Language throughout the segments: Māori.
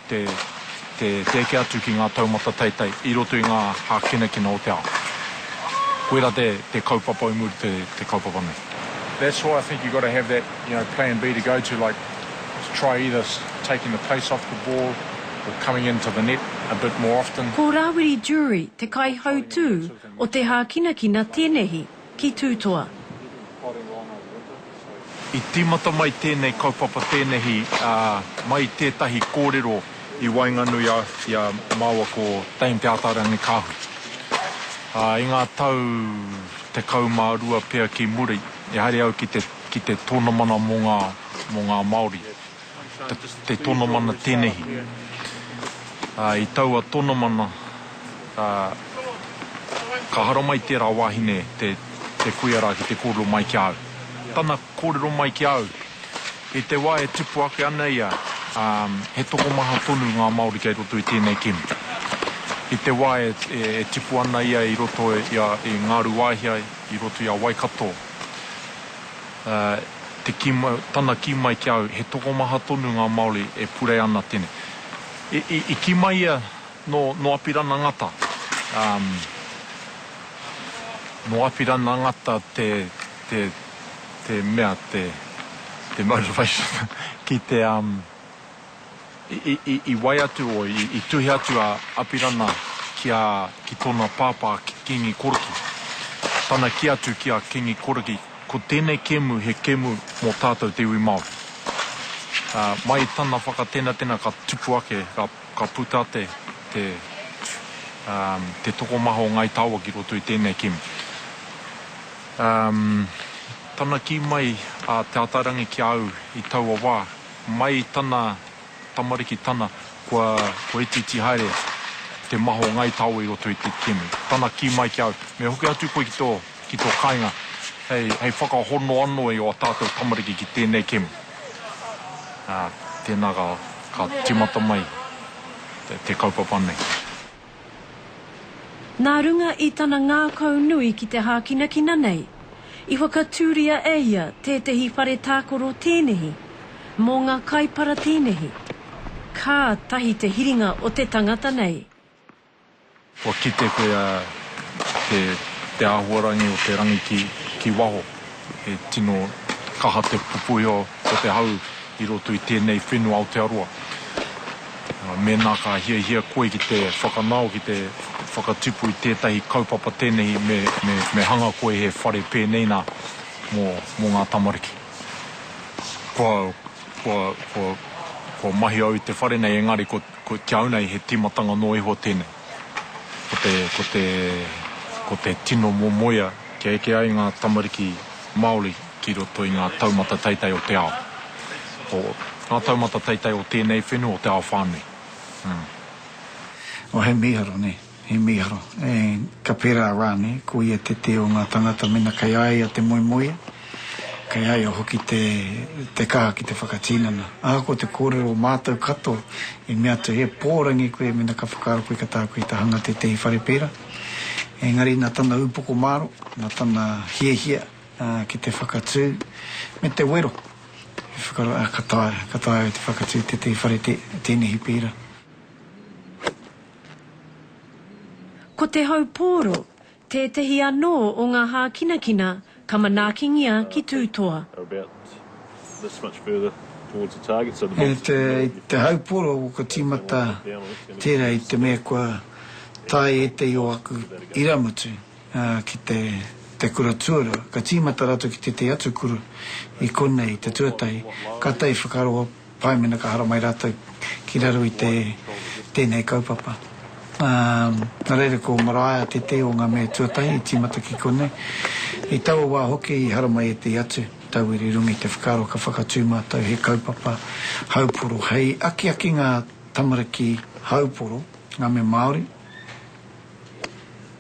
te eke atu ki ngā taumata teitei i roto i ngā hākinakina o te ao. Koirā te kaupapa i muri i te kaupapa nei. That's why I think you've got to have that, you know, plan B to go to, like to try either taking the pace off the ball or coming into the net a bit more often. Ko Rawiri Jury te kaihautū o te hākinakina tēnehi. ki Tūtoa. I tīmata mai tēnei kaupapa tēnehi mai i tētahi kōrero i waenganui i a māua ko Dame Te Ataarangi-Kaahui i ngā tau tekau mā rua pea ki muri, ehara au ki te tonamana mō ngā Māori. te tonomana tenehi. I taua tonomana ka haramai tera wahine te kuia ra ki te korero mai ki a au. Tana korero mai ki a au, i te wa e tupu ake ana ia, he tokomaha tonu nga Maori kei roto i tenei kimi. I te wa e tupu ana ia i roto i a Ngaruwaihia, i roto i a Waikato, te kī mai, tana kī mai ki a au, he tokomaha tonu ngā Māori e purei ana tēnei. I kī mai ia nō, nō Apirana Ngata, ā, nō Apirana Ngata te, te, te mea, te, te motivation ki te, ā, I wai atu o, i tuhi atu a Apirana ki a, ki tona pāpā ki Kingi Koriki. Tana ki atu ki a Kingi Koriki, Ko tenei kemu he kemu mo tatou te iwi Maori. Mai i tana whakatenatena ka tupu ake, ka puta te, te, te tokomaha o Ngai Tawa ki roto i tenei kemu. Tana ki mai a Te Atairangi ki a au i taua wa, Mai i tana tamariki tana, kua, kua itiiti haere te maha o Ngai Taoa i roto i te kimi. Tana kī mai ki a au, me hoki atu koe ki tō, ki tō kāinga hei, hei whakahono anō i ō tātou tamariki ki tēnei kimi. Ā, tēnā ka, ka tīmata mai te, te kaupapa nei. Nā runga i tana ngākau nui ki te hākinakina nei, i whakatūria e ia tētehi whare tākoro tēnehi, mō ngā kaipara tēnehi. Kātahi te hiringa o te tangata nei. Kua kite koe te āhuarangi o te rangi ki waho. He tino kaha te pupuhi o. Ko te hau i roto i tēnei whenua Aotearoa. Mēnā ka hiahia koe ki te whakanao, ki te whakatipu i tētahi kaupapa tēnehi, me hanga koe he whare pēnei nā, mō ngā tamariki. Kua mahi au i te whare nei, engari kia au nei he tīmatanga noa iho tēnei. Ko te tino momoea kia eke ai ngā tamariki Māori ki roto i ngā taumata teitei o te ao, o ngā taumata teitei o tēnei whenua, o te ao whānui. Oh, he mīharo, nē, he mīharo. Ka pērā rānei, ko ia te tē o ngā tangata mena kei a ia te moemoeā, Kei a ia hoki te kaha ki te whakatinana. Ahakoa te kōrero o mātou katoa i mea atu he pōrangi koe mēnā ka whakaaro koe ka taea koe te hanga tētehi whare pērā, engari nā tana upoko māro, nā tana hiahia ki te whakatū me te wero i whakaaro, ā, ka taea, ka taea e te whakatū tētehi whare tēnehi pērā. Ko te hau pōro, Tētehi anō o ngā hākinakina ka manaakingia ki tūtoa. He te hau poro ka tīmata tērā i te mea kua tae ētehi o aku irāmutu ki te kura tuarua, ka tīmata rātou ki tētehi atu kura i konei te tuatahi, kātahi whakaroa. Pai mena ka hara mai ratou ki raro i te tenei kaupapa. Na reira ko Maraea tetei o nga mea tuatahi i timata ki konei. I taua wa hoki i hara mai etei atu tauira i runga i te whakaaro ka whakatu matou he kaupapa hauporo hei akiaki nga tamariki hauporo, nga mea Maori,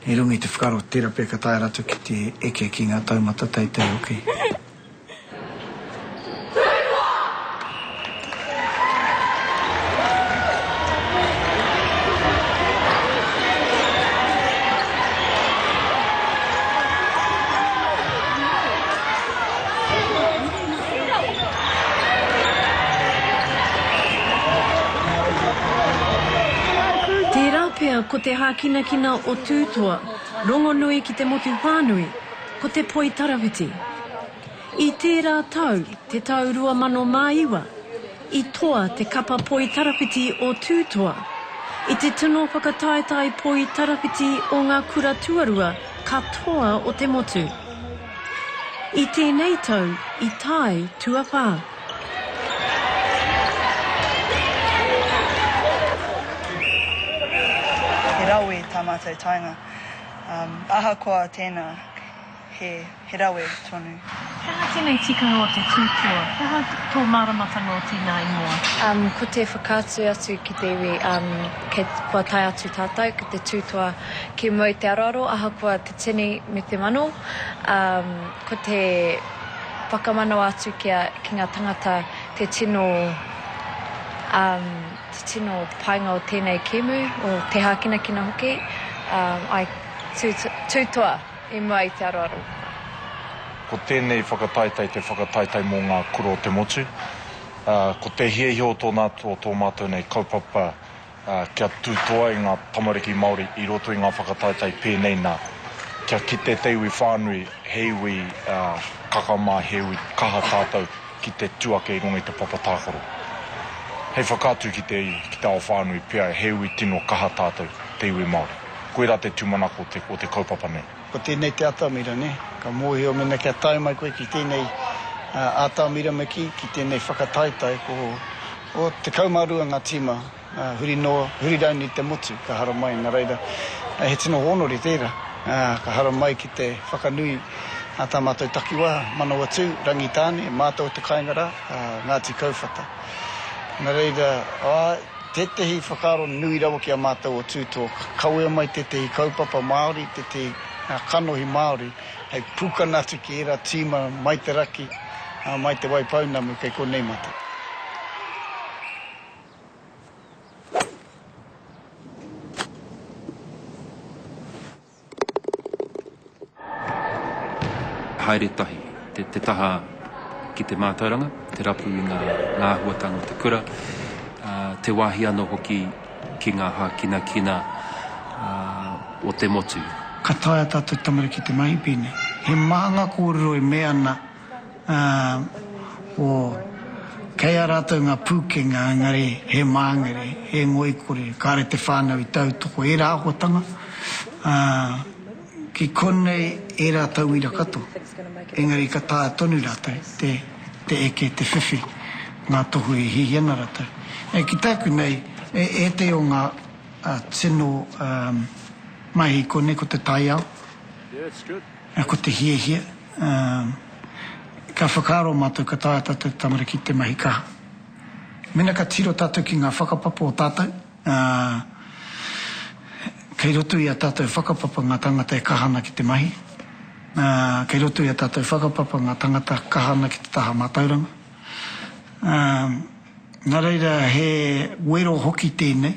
i runga i te whakaaro tera pea ka taea ratou ki te eke ki nga taumata teitei hoki. Tērā pea ko te hākinakina o Tūtoa, rongonui ki te motu whānui. Ko te poi tarawhiti. I tērā tau, te tau 2009, i toa te kapa poi tarawhiti o Tūtoa i te tino whakataetae poi tarawhiti o ngā kura tuarua katoa o te motu. I tēnei tau i tae tuawhā. He rawe tā mātou taenga. Ahakoa tēnā, he rawe tonu. He aha tēnei tikanga o te tūpua? He aha tō māramatanga o tēnā ingoa? Ko te whakaatu atu ki te iwi, kua tae atu tātou ki te tūtoa, ki mua i te aroaro, ahakoa te tini me te mano, ko te whakamanawa atu ki ngā tangata te tino. Te tino painga o tēnei kēmu, o te hākinakina hoki, I tū toa i mua i te aroaro. Ko tēnei whakataetae te whakataetae mō ngā kura o te motu. Ko te hiahia o tōna atu o tō mātou nei kaupapa kia tū toa i ngā tamariki Māori i roto i ngā whakataetae pēnei nā, kia kite te iwi whānui he iwi kakama, he iwi kaha tātou. ki te tū ake i runga i te papa tākaro. Hei whakaatu ki te iwi, ki te ao whānui pea he iwi tino kaha tātou, te iwi Māori. Koirā te tūmanako o te kaupapa nei. Ko tēnei te atamira, nē? Ka mōhio mēnā kia tae mai koe ki tēnei atamira me kī, ki tēnei whakataetae, ko 12 ngā tīma. Huri noa, huri raini te motu ka haramai, na reira he tino honori tera ka haramai ki te whakanui a ta matou takiwa, Manawatu, Rangitane, matou te kainga ra, Ngati Kauwhata. Na reira, ae, tetehi whakaaro nui rawa ki a matou o Tu Talk, kawea mai tetehi kaupapa Maori, tetehi kanohi Maori hei pukana atu ki era tima mai te raki, mai Te Waipounamu kei konei matou. Haere tahi te taha ki te mātauranga, te rapu i ngā āhuatanga o te kura, te wāhi anō hoki ki ngā hākinakina o te motu. Ka taea tātou tamariki te mahi pēnei. He maha ngā kōrero e mea ana. ā, o, kei a rātou ngā pūkenga, engari he māngere, he ngoikore, kāre te whānau i tautoko ērā akotanga, ā, ki konei ērā tauira katoa, engari ka taea tonu rātou te, te eke, te whiwhi ngā tohu e hihi ana rātou. Nei, ki tāku nei, e, ētehi o ngā, ā, tino, ā, mahi i konei ko te taiao. Ko te hiahia, ka whakaaro mātou ka taea tātou tamariki ki te mahi kaha. Mēnā ka tiro tātou ki ngā whakapapa o tātou, kei roto i ā tātou whakapapa ngā tāngata e kaha ana ki te mahi, kei roto i ā tātou whakapapa ngā tāngata kaha ana ki te taha mātauranga. Nā reira he wero hoki tēnei.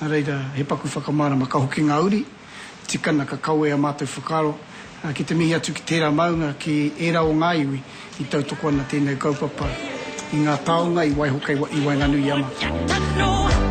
Nā reira, he paku whakamārama ka hoki ngā uri, tikana ka kawea mātou whakaaro ki te mihi atu ki tērā maunga, ki ērā o ngā iwi i tautoko ana tēnei kaupapa i ngā taonga i waiho kei i waenganui i a mātou.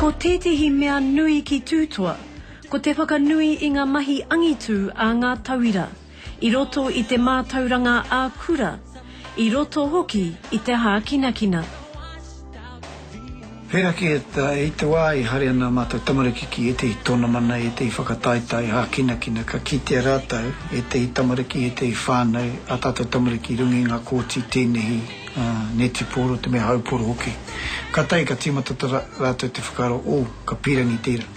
Ko tētehi mea nui ki Tūtoa, ko te whakanui i ngā mahi angitū a ngā tauira, i roto i te mātauranga ā-kura, i roto hoki i te hākinakina. Pērā ki ēta, i te wā i haere ana ā mātou tamariki ki ētehi tōnamana, ētehi whakataetae hākinakina, ka kitea rātou, ētehi tamariki, ētehi whānau, ā tātou tamariki i runga i ngā kōti tēnehi, Ā, netipōro te mea haupōro hoki. Kātahi ka tīmata tō rātou te whakaaro, ō, ka pīrangi tērā.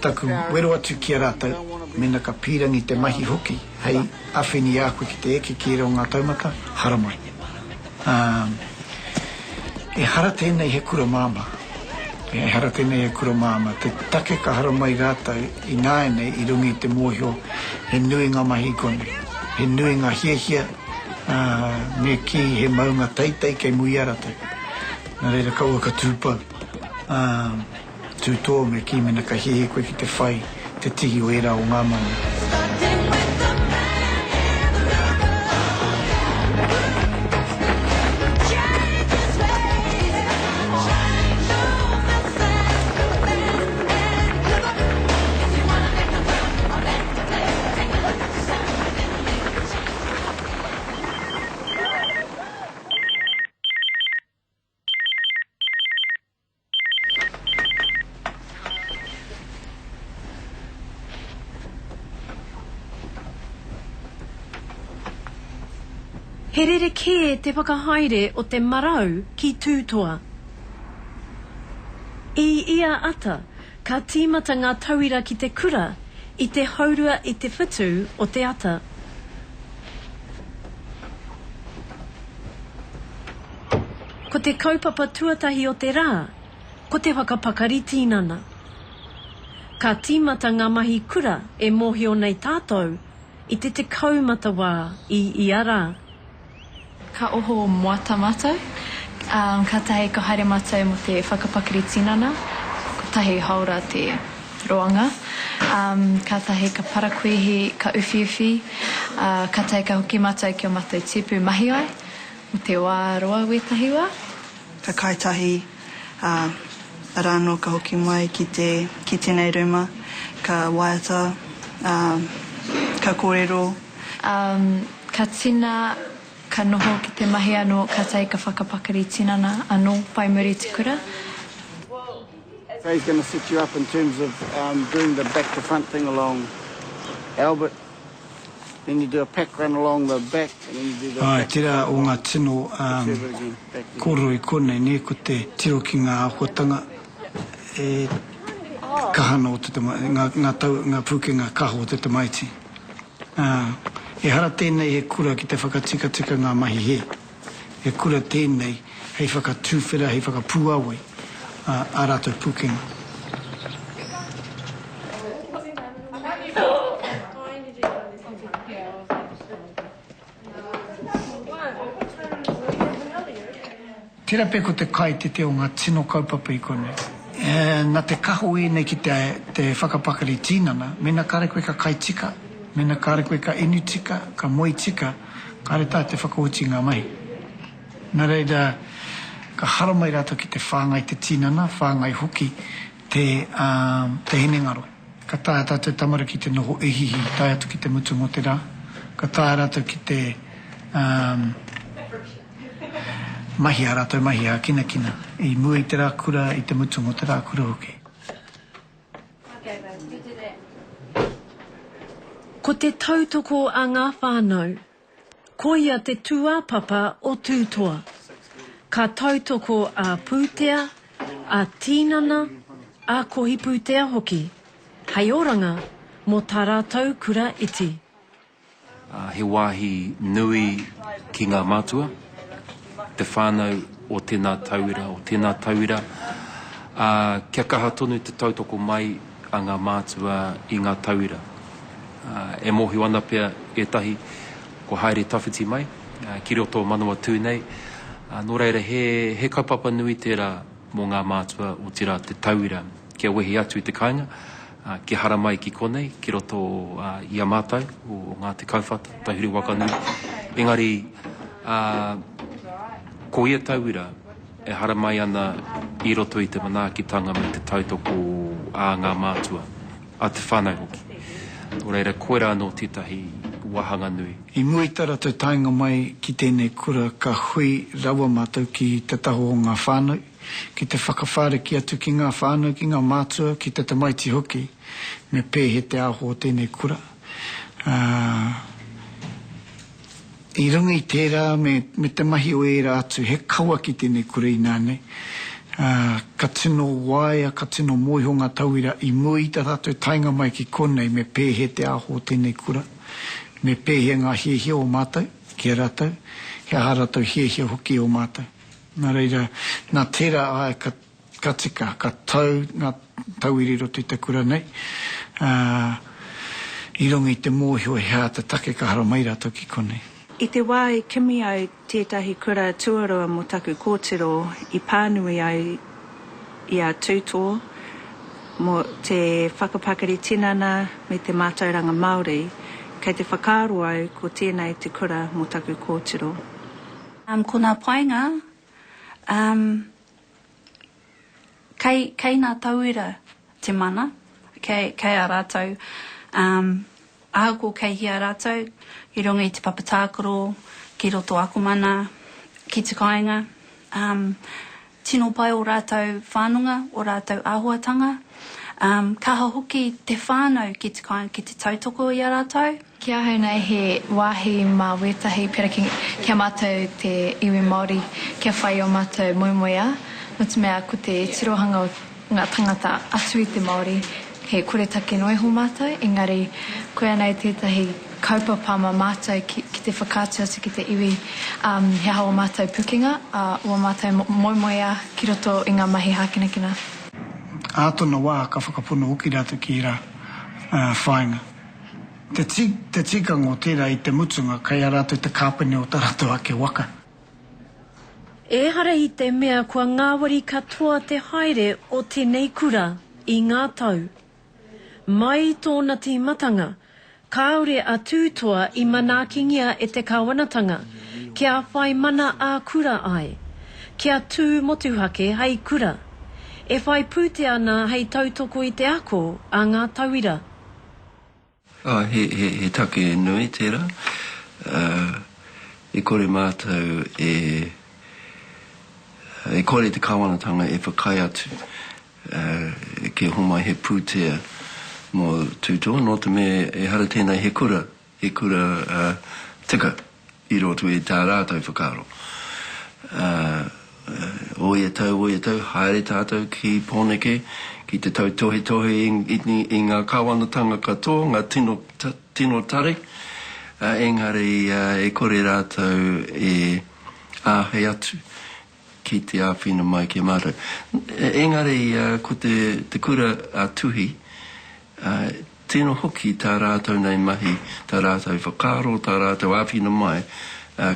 Taku wero atu ki a rātou, mēnā ka pīrangi te mahi hoki hei awheni i a koe ki te eke ki ērā o ngā taumata, haramai. Ā, ehara tēnei he kura māmā. Ehara tēnei he kura māmā. Te take ka haramai rātou ināianei i runga i te mōhio he nui ngā mahi i konei, he nui ngā hiahia, Ā, me kī, He maunga teitei kei Muia ratou. Nā reira kaua ka tū pau. Ā, tū tō, me kī, Mena ka hiahia koe ki te whai te tihi o ērā o ngā maunga. He rerekē te whakahaere o te marau ki Tūtoa. I ia ata, Ka tīmata ngā tauira ki te kura i te haurua i te whitu o te ata. Ko te kaupapa tuatahi o te rā, ko te whakapakari tīnana. Ka tīmata ngā mahi kura e mōhio nei tātou i te tekau mata wā i ia rā. Ka oho moata matou, katahi ka haere matou mo te whakapakari tinana, kotahi haora te roanga, katahi ka parakuihi, ka uwhiuwhi, katahi ka hoki matou ki o matou tipu mahi ai, mo te wa roa wetahi wa. Ka kai tahi, ara no ka hoki mai ki te ki tenei ruma, ka waiata, ka korero, Um, ka tina, ka noho ki te mahi ano, ka take ka whakapakari tinana ano, whai muri te kura. Well, as he's gonna set you up in terms of um, doing the back to front thing along Albert, then you do a pack run along the back, and then you do the. Aye, tera o nga tino um, korero i konei, ne, ko te tiro ki nga ahuatanga e kaha ana o te tama, nga, nga, tau, nga pukenga kaha o te tamaiti. Ā, ehara tēnei he kura ki te whakatikatika ngā mahi hē. He kura tēnei hei whakatuwhera, hei whakapuāwai ā, ā rātou pūkenga. Tera pea ko te kai tete o nga tino kaupapa i konei. Na te kaho enei ki te whakapakari tinana, mena kare koe ka kai tika, mena kare koe ka inu tika, ka moe tika, kare tahi te whakaoti i nga mahi. Na reira, ka haramai ratou ki te whangai te tinana, whangai hoki. te, ā, te hinengaro. Ka taea tā te tamariki te noho ihiihi tae atu ki te mutunga o te rā. Ka taea rātou ki te, ā, mahi ā rātou mahi ā-kinakina i mua i te rā kura, i te mutunga o te rā kura hoki. Ko te tautoko a ngā whānau Koia te tūāpapa o Tūtoa. Ka tautoko a pūtea, a tīnana, a kohipūtea hoki, hei oranga mō tā rātou kura iti. He wāhi nui ki ngā mātua. te whānau o tēnā tauira, o tēnā tauira, ā, kia kaha tonu te tautoko mai a ngā mātua i ngā tauira. Ā, e mōhio ana pea ētahi kua haere tawhiti mai, ā, ki roto o Manawatū nei, ā, nō reira, he, he kaupapa nui tērā mō ngā mātua, otirā, te tauira, kia wehi atu i te kāinga, Kia haramai ki konei, ki roto i a mātou, o ngā Te Kauwhata, Tauhiri Wakanui, engari ko ia tauira e haramai ana i roto i te manaakitanga me te tautoko a ngā mātua, a te whānau hoki. Nō reira, koirā anō tētahi wāhanga nui. I mua i tā rātou taenga mai ki tēnei kura ka hui rawa mātou ki te taho o ngā whānau, ki te whakawhāriki atu ki ngā whānau, ki ngā mātua, ki te tamaiti hoki, me pēhe te aho o tēnei kura. Ā, i runga i tērā me, me te mahi o ērā atu, he kawa ki tēnei kura inā nei. Ā, ka tino waea, ka tino mōiho ngā tauira i mua i tā tātou taenga mai ki konei me pēhe te aho o tēnei kura, me pēhe ngā hiahia o mātou ki a rātou, he aha rātou hiahia hoki e ō mātou. Nā reira, nā tērā āe ka, ka tika, ka tau ngā tauira i roto i te kura nei, ā, i runga i te mōhio he āta take ka hara mai rātou ki konei. I te wā i kimi ai tētahi kura tuarua mō taku kōtiro i pānui ai i a Tūtō mō te whakapakari tinana me te mātauranga Māori, kei te whakaaro au ko tēnei te kura mō taku kōtiro. Ko nā painga, umm, kei, kei nā tauira te mana, kei, kei a rātou, umm, ahakoa kei hea rātou, i runga i te papa tākaro, ki roto akomana, ki te kāinga, umm, Tino pai o rātou whanonga, o rātou āhuatanga. Kaha hoki te whānau ki te kāinga ki te tautoko i a rātou. Ki ahau nei he wāhi mā wētahi pera ki a mātou te iwi Māori kia whai o mātou moemoeā, notemea ko te tirohanga o. ngā tangata atu i te Māori, he koretake noa iho mātou, engari koianei tētahi kaupapa mā mātou ki te whakaatu atu ki te iwi he aha ō mātou pukenga, ō mātou moemoeā ki roto i ngā mahi hākinakina. Ā tōna wā ka whakapono hoki rātou ki ērā whāinga. Te tikanga o tērā i te mutunga kei a rātou te kāpene o tā rātou ake waka. Ehara i te mea kua ngāwari katoa te haere o tenei kura i ngā tau. Mai i tōna tīmatanga, kāore a Tūtoa i manaakingia e te Kawanatanga kia whai mana ā-kura ai, kia tū motuhake hei kura, e whai pūtea ana hei tautoko i te ako a ngā tauira. He take nui tērā. E kore mātou e, e kore te Kāwanatanga e whakaae atu kia homai he pūtea mō Tūtoa, nō te mea ehara tēnei he kura, he kura tika. i roto i tā rātou whakaaro. Ā, o ia tau, o ia tau, haere tātou ki Pōneke ki te tautohetohe i ngā Kāwanatanga katoa, ngā tino, tino tari, ā, engari e kore rātou e āhei atu ki te āwhina mai ki a mātou. Engari ko te kura a Tuhi, tino hoki tā rātou nei mahi, tā rātou whakaaro, tā rātou āwhina mai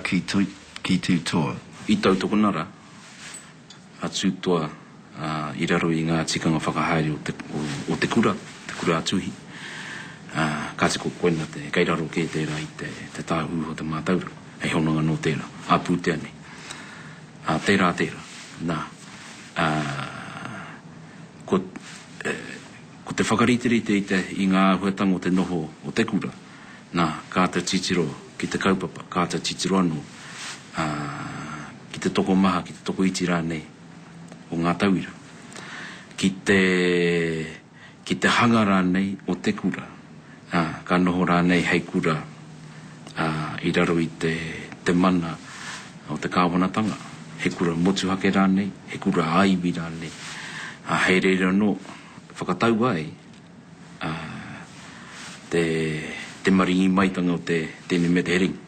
ki Tū Toa. I tautokona rā a Tū Toa. i raro i ngā tikanga whakahaere o te kura, te kura a Tuhi, ā, kāti ko koina te, kei raro kē tērā i te, te tāhū o te mātauranga, hei hononga nō tērā, ā pūtea nei. Ā, tērā tērā, nā, ā, ko, e, ko te whakariterite i te, i ngā āhuatanga o te noho o te kura, nā, kāta titiro ki te kaupapa, kāta titiro anō, ā, ki te tokomaha, ki te tokoiti rānei, o ngā tauira, ki te, ki te hanga rānei o te kura, ā, ka noho rānei hei kura, ā, i raro i te, te mana o te kāwanatanga, he kura motuhake rānei, he kura ā-iwi rānei, ā, hei reira anō, whakatau ai, ā, te, te maringi maitanga o te tēnei me te heringa.